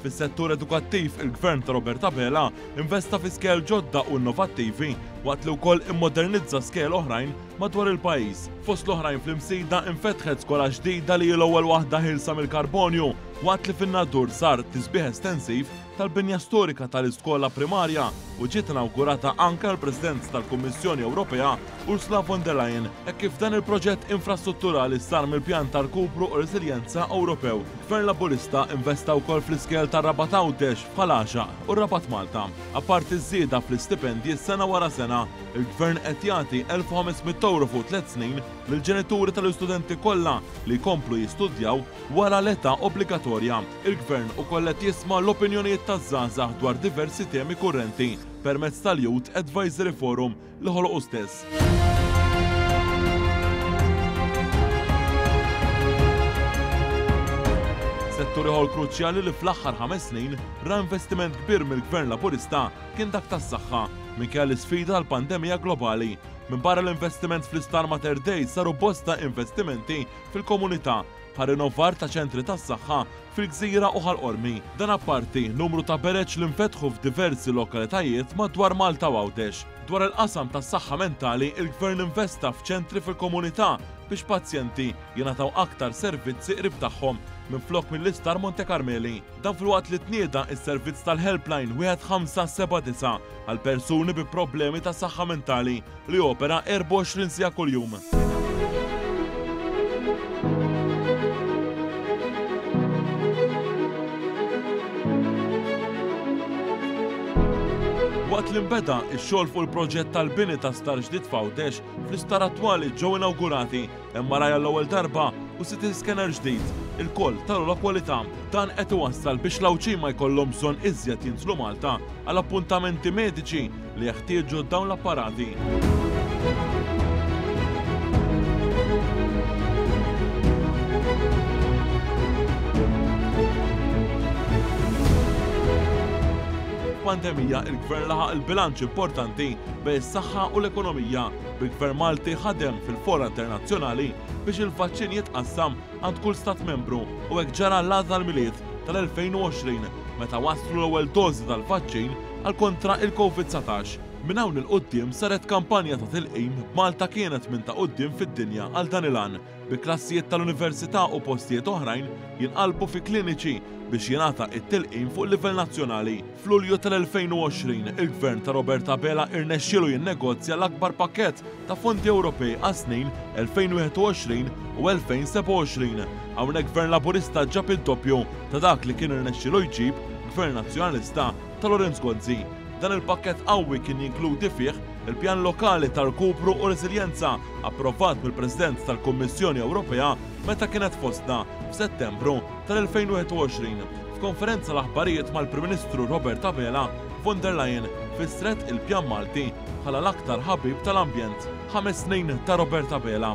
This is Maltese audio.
Fis-settur edukattiv, il-Gvern ta' Robert Abela investa fi skejjel ġodda u innovattivi waqt li wkoll immodernizza skejjel oħrajn madwar il-pajjiż. Fost l-oħrajn fl-Imsida infetħet skola ġdida li hi l-ewwel waħda ħielsa mill-karbonju waqt li fin-Nadur sar tisbiħ estensiv tal-binja storika tal-iskola primarja u ġiet inawgurata anke għall-Presidenza tal-Kummissjoni Ewropea Ursula von der Leyen hekk kif dan il-proġett infrastrutturali sar mill-Pjan ta' Rkupru u Reżiljenza Ewropew. Gvern Laburista investa wkoll fl-iskejjel tar-Rabat Għawdex bħal Għaxaq u r-Rabat Malta. Apparti ż-żieda fl-istipendji sena wara sena, il-Gvern qed jagħti elf u ħames mitt ewro fuq tliet snin lill-ġenituri tal-istudenti kollha li jkomplu jistudjaw wara l-età obbligatorja. Il-Gvern ukoll qed jisma' l-opinjonijiet taż-żgħażagħ dwar diversi temi kurrenti permezz tal-Youth Advisory Forum, li ħoloqu stess. settur ieħor kruċjali li fl-aħħar ħames snin ra investiment kbir mill-Gvern Laburista kien dak tas-saħħa minkejja l-isfida għal pandemija globali. Minbarra l-investiment fl-Isptar Mater Dei saru bosta investimenti fil-komunità bħal rinnovar ta' ċentri tas-saħħa fil-Gżira u Ħal Qormi. Dan apparti numru ta' bereġ li nfetħu f'diversi lokalitajiet madwar Malta u Għawdex. Dwar il-qasam tas-saħħa mentali, il-Gvern investa f'ċentri fil-komunità biex pazjenti jingħataw aktar servizzi qrib tagħhom minflok mill-Isptar Monte Karmeli. Dan filwaqt li tnieda s-servizz tal-Helpline wieħed ħamsa seba' disa' għal persuni bi problemi ta' saħħa mentali. li jopera 24 siegħa kuljum. Waqt li nbeda x-xogħol fuq il-proġett tal-bini ta' sptar ġdid f'Għawdex, fl-isptar attwali ġew inawgurati Hemm wara għall-ewwel darba u city scanner ġdid, ilkoll ta' l-ogħla kwalità. Dan qed iwassal biex l-Għawdxin ma jkollhom bżonn iżjed jinżlu Malta għal appuntamenti mediċi li jeħtieġu dawn l-apparati. F'pandemija, il-Gvern laħaq il-bilanċ importanti bejn is-saħħa u l-ekonomija. bil-Gvern Malti ħadem fil-fora internazzjonali biex il-vaċċin jitqassam għand kull Stat Membru u hekk ġara l-għada l-Milied tal-2020 meta waslu l-ewwel dożi tal-vaċċin għal kontra il-Covid 19. Minn hawn 'il quddiem saret kampanja ta' tilqim b'Malta kienet minn ta' quddiem fid-dinja għal dan il-għan. bi klassijiet tal-università u postijiet oħrajn jinqalbu fi kliniċi biex jingħata t-tilqim fuq livell nazzjonali. F'Lulju tal-2020, il-Gvern ta' Robert Abela irnexxielu jinnegozja l-akbar pakkett ta' fondi Ewropej għas-snin 2021 u 2027. Hawnhekk Gvern Laburista ġab id-doppju ta' dak li kien irnexxielu jġib Gvern Nazzjonalista. ta' Lorenz Gonzi. Dan il-pakkett qawwi kien jinkludi fih il-Pjan Lokali ta' Rkupru u Reżiljenza approvat mill-President tal-Kummissjoni Ewropea meta kienet fostna f'Settembru tal-2021 f'konferenza l-aħbarijiet mal-Prim Ministru Robert Abela, Von der Leyen fissret il-Pjan Malti bħala l-aktar ħabib tal-ambjent. Ħames snin ta' Robert Abela.